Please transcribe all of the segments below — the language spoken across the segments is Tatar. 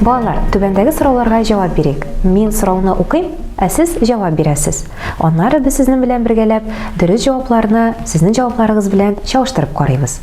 Балалар, түбәндәге сорауларга җавап бирик. Мин сорауны укыйм, ә сез җавап бирәсез. Аннары без сезнең белән бергәләп дөрес җавапларны сезнең җавапларыгыз белән чагыштырып карыйбыз.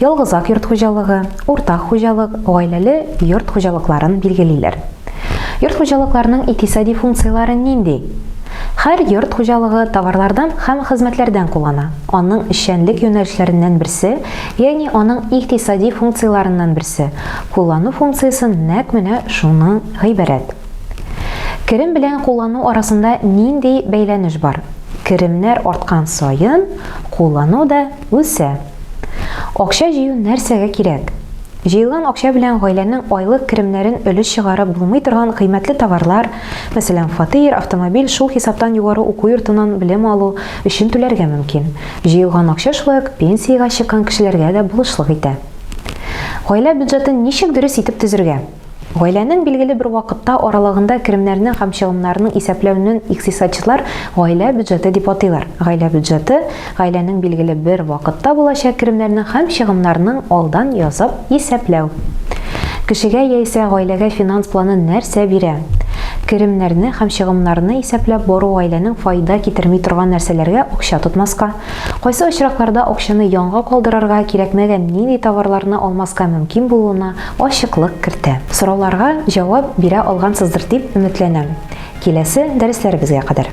Ялгызак йорт хуҗалыгы, уртак хуҗалык, гаиләле йорт хуҗалыкларын билгелиләр. Йорт хуҗалыкларның икътисади функцияләре нинди? Һәр йорт хуҗалыгы товарлардан һәм хезмәтләрдән куллана. Аның эшчәнлек юнәлешләреннән берсе, ягъни аның икътисади функцияләреннән берсе, куллану функциясе нәкъ менә шуның гыйбарәт. Керем белән куллану арасында нинди бәйләнеш бар? Керемнәр арткан саен, куллану да үсә. Акча җыю нәрсәгә кирәк? Җыелган акча белән гаиләнең айлык керемнәрен өлеш чыгарып булмый торган кыйммәтле товарлар, мәсәлән, фатир, автомобиль, шул хисаптан югары уку йортыннан белем алу, өчен түләргә мөмкин. Җыелган акча шулай ук пенсиягә чыккан кешеләргә дә булышлык итә. Гаилә бюджетын ничек дөрес итеп төзергә? Гаиләнең билгеле бер вакытта аралыгында керемнәрне һәм чыгымнарны исәпләүнен икътисадчылар гаилә бюджеты дип атыйлар. Гаилә бюджеты, гаиләнең билгеле бер вакытта булачак керемнәрнең һәм чыгымнарның алдан язып исәпләү. Кешегә яисә гаиләгә финанс планы нәрсә бирә? Керемнәрне һәм чыгымнарны исәпләп бару гаиләнең файда китерми торган нәрсәләргә акча тотмаска, кайсы очракларда акчаны янга калдырырга, кирәкмәгән нинди товарларны алмаска мөмкин булуына ачыклык кертә. Сорауларга җавап бирә алгансыздыр дип өметләнәм. Киләсе дәресләребезгә кадәр!